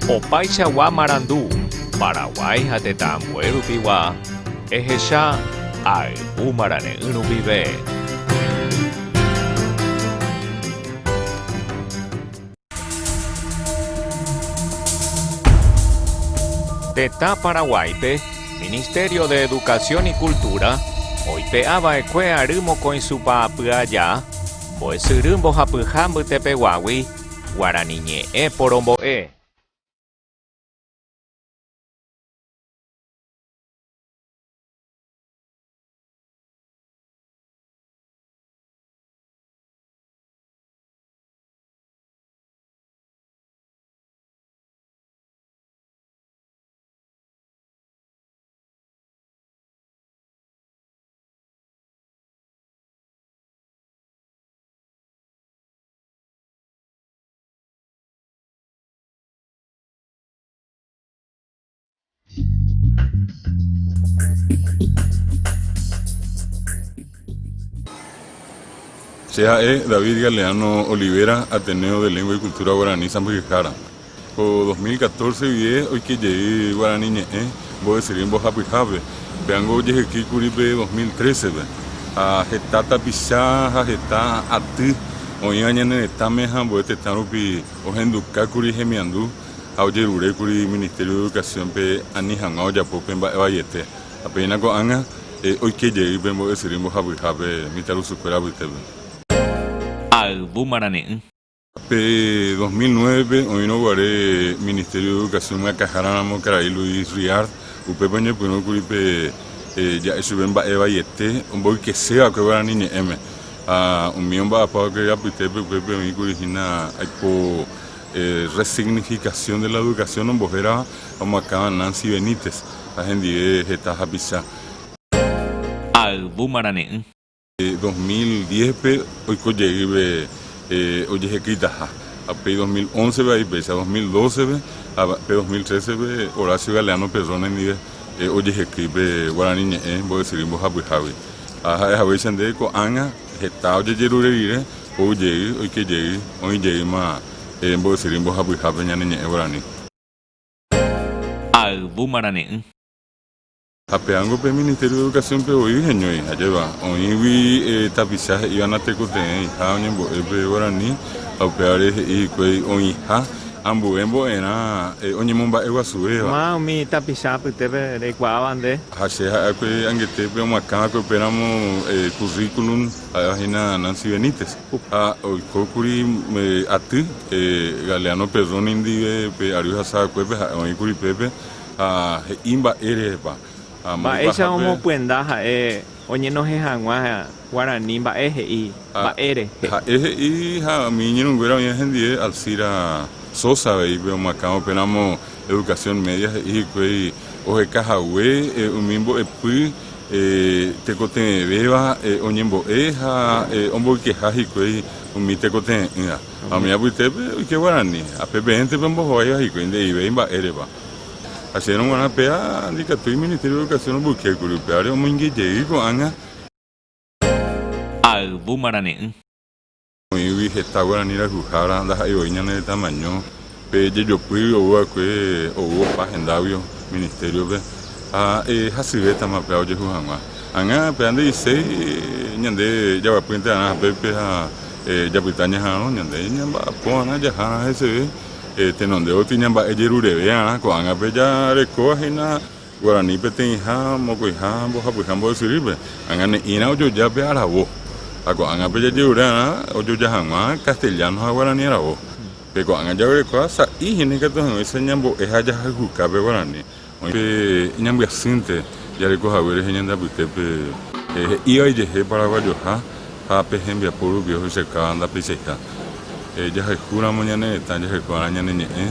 Opaichagua marandu, Paraguái ha tetã ambue rupigua, ehecha ayvu marane'ỹ rupive. Tetã Paraguáipe, Ministerio de Educación y Cultura oipe'a va'ekue ary mokõi supa apy aja, mbo'esyry mbohapyha mbytepeguágui, Guarani ñe'ẽ porombo'e. Che ha'e David Galeano Olivera, Ateneo de Lengua y Cultura Guaraní Sãmbyhyhára. Ko dos mil catorce guie oike jey Guarani Ñe'ẽ mbovysyry mbohapyhápe, péango ojehyky kuri pe dos mil trece-pe. Ha heta tapicha ha heta aty oĩva ñane retãme ha ambue tetã rupi ohenduka kuri hemiandu ha ojerure kuri Ministerio de Educación-pe ani hag̃ua ojapo pe mba'e vaiete. Ha péina ko'ág̃a oike jey pe mbovysyry mbohapyhápe mitãrusukuéra apytépe. Ha yvy marane'ỹ. Pe dos mil nuévepe oĩrõ guare Ministerio de Educación myakãhára ramo karai Luis Riard, upépe oñepyrũ kuri pe ja'e chupe mba'e vaiete omboykese va'ekue guarani ñe'ẽme. Ha umi omba'apa va'ekue apytépe upépe oĩ kuri hína aipo Resignificación de la educación ombohérava omoakãva Nancy Benítez ha hendive heta hapicha. Ayvu marane'ỹ. Dos mil diéspe oiko jeýve ojehekyitaha, ha pe dos mil ónsepe avei péicha, dos mil dóseve ha pe dos mil trésepe Horacio Galeano Perrone ndive ojehekýi pe guarani ñe'ẽ mbo'esyry mbohapyhágui. Ha ha'e haguéicha nde ko'ág̃a heta ojejerure rire ou jey, oike jey, oĩ jeýma mbo'esyry mbohapyhápe ñane ñe'ẽ guarani. Ha ayvu marane'ỹ. Ha peángo pe Ministerio de Educación-pe voi heñói jajéva, oĩgui tapicha he'íva natekotevẽiha oñembo'e pe guarani ha upévare he'i hikuái oĩha ambue mbo'erã oñemomba'eguasuvéva. Maa umi tapicha apytépe reikuaáva nde. Ha che ha'e akue angetépe omakã va'ekue upéramo currículum ha'éva hína Nancy Benítez. Ha oikókuri aty Galeano Perroni ndive pe ary hasavakuépe ha'e oĩkuri pépe. ha he'i mba'e rehepa. Ha Mba'éicha omopyenda ha'e oñenohẽ hag̃ua guarani mba'e he'i mba'e rehe. Ha'e he'i ha umi iñirũnguéra oĩva hendie Alcira Sosa avei pe omakãva upéramo Educación Media he'i hikuái oheka hague umi mbo'epy tekotevẽvéva oñembo'e ha omboykeha hikuái umi tekotevẽ'ỹva. Ha umi apytépe oike guarani ha pepe'ẽnte pembohováiva hikuái nde'ivéi mba'e repa. Acherõ g̃uarã péa ndikatúi Iministério de Educación omboykékuri upévare omoinge jey ko'ág̃a. Ha yvu marane'ỹ. Oĩgui heta guarani rayhuhára ndaha'éi voi ñane retã maño, pe jejopy ou va'ekue ou opa hendágui Ministério-pe ha hasyvétama upéva ojehu hag̃ua. Ag̃a péa nde'iséi ñande jaguapýnte va'erã hapépe ha japyta ñaharõ, ñande ñamba'apóva'erã jahá'arã heseve. Tenondévagui ñamba'e jerureve'arã ko'ág̃ape jarekóva hína guarani peteĩha, mokõiha ha mbohapyha mbo'esyrýpe, añane'ĩrã ojoja pe aravo, ha ko'ág̃ape jajerure'arã ojoja hag̃ua castellano ha guarani aravo. Pe ko'ág̃a jaguerekóva sa'i hína ikatu hag̃uáicha ñambo'e ha jahayhuka pe guarani, Oĩ pe iñambyasýnte jareko hague rehe ñande apytépe he'ívai jehe paraguayoha ha pe hembiapo rupi ohechaika ndapeichaiha. Jahayhu ramo ñane retã jaheko va'erã ñane ñe'ẽ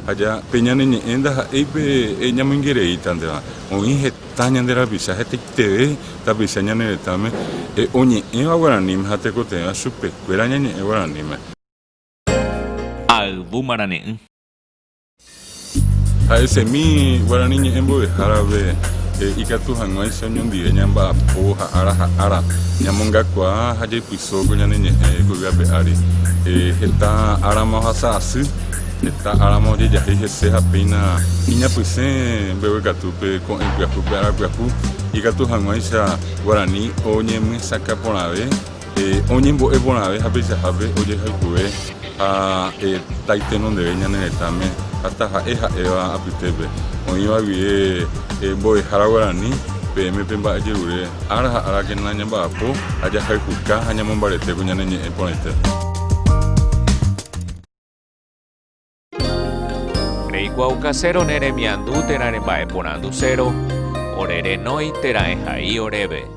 ha ja pe ñane ñe'ẽ ndaha'éi pe ñamoingereíta ndéva. Oĩ heta ñande rapicha hetaiteve tapicha ñane retãme oñe'ẽva guaraníme ha tekotevẽva chupekuéra ñañe'ẽ guaraníme. Ayvu marane'ỹ. Ha'e semi guarani ñe'ẽ mbovehárape ikatu hag̃uáicha oñondive ñamba'apo ha ára ha ára ñamongakuaa ha jaipyso ko ñane ñe'ẽ ypýpe ape ári. Heta árama ohasa asy, heta árama ojejahéi hese ha péina iñapysẽ mbeguekatúpe ko'ẽ pyahúpe ára pyahu ikatu hag̃uáicha guarani oñemyesakã porãve. Oñembo'e porãve ha peichahápe ojehayhue ha taiteno ndeve ñane retãme ha taha'e ha'éva apytépe. Oĩva guie Mbo'ehára Guarani, peẽme pe mba'ejerure ára ha árakena ñamba'apo ha jahayhuka ha ñamombaretéko ñane ñe'ẽ porãite. Reikuaau kaséro ne remiandu térã remba'e porandu séro, ore renói térã ehai oréve.